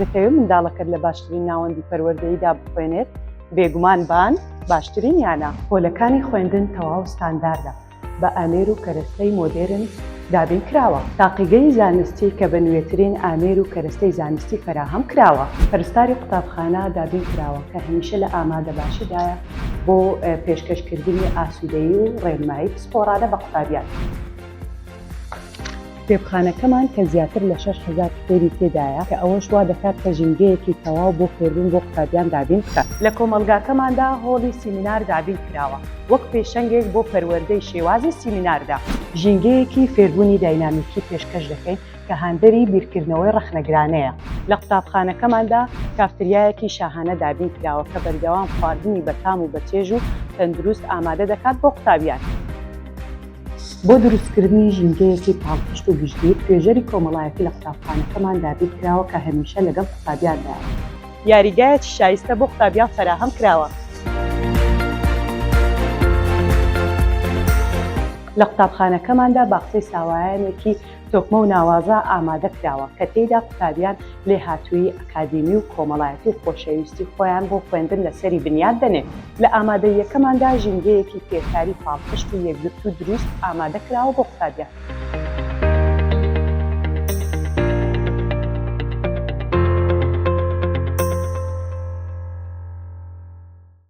دەتەوێت منداڵەکەت لە باشترین ناوەندی پەروەردەیدا بخوێنێت بێگومان بان باشترین یانە پۆلەکانی خوێندن تەواو ستانداردە بە ئامێر و کەرەستەی مۆدێرن دابین کراوە تاقیگەی زانستی کە بە نوێترین ئامێر و کەرەستەی زانستی فەراهەم کراوە پەرستاری قوتابخانە دابین کراوە کە هەمیشە لە ئامادە باشیدایە بۆ پێشکەشکردنی ئاسوودەیی و ڕێنمایی پسپۆڕانە بە قوتابیان. کتێبخانەکەمان کە زیاتر لە شەش هەزار کتێبی تێدایە کە ئەوەش وا دەکات کە ژینگەیەکی تەواو بۆ فێربوون بۆ قوتابیان دابین بکات. لە کۆمەڵگاکەماندا هۆڵی سیمینار دابین کراوە وەک پێشەنگێک بۆ پەروەردەی شێوازی سیمیناردا. ژینگەیەکی فێربوونی داینامیکی پێشکەش دەکەین، کە هاندەری بیرکردنەوەی ڕەخنەگرانەیە. لە قوتابخانەکەماندا کافتریایەکی شاهانە دابین کراوە کە بەردەوام خواردنی بەتام و بەچێژ و تەندروست ئامادە دەکات بۆ قوتابیان. بۆ دروستکردنی ژینگەیەکی پاڵپشت و گشتگیر، توێژەری کۆمەڵایەتی لە قوتابخانەکەمان دابین کراوە کە هەمیشە لەگەڵ قوتابیاندایە. یاریگایەکی شایستە بۆ قوتابیان فەراهەم کراوە. لە قوتابخانەکەماندا باخچەی ساوایانێکی تۆکمە و ناوازە ئامادە کراوە کە تێیدا قوتابیان لێهاتوویی ئەکادیمی و کۆمەڵایەتی و خۆشەویستی خۆیان بۆ خوێندن لەسەری بنیات دەنێن. لە ئامادەییەکەماندا ژینگەیەکی فێرکاری پاڵپشت و یەکگرتوو دروست ئامادە کراوە بۆ قوتابیان.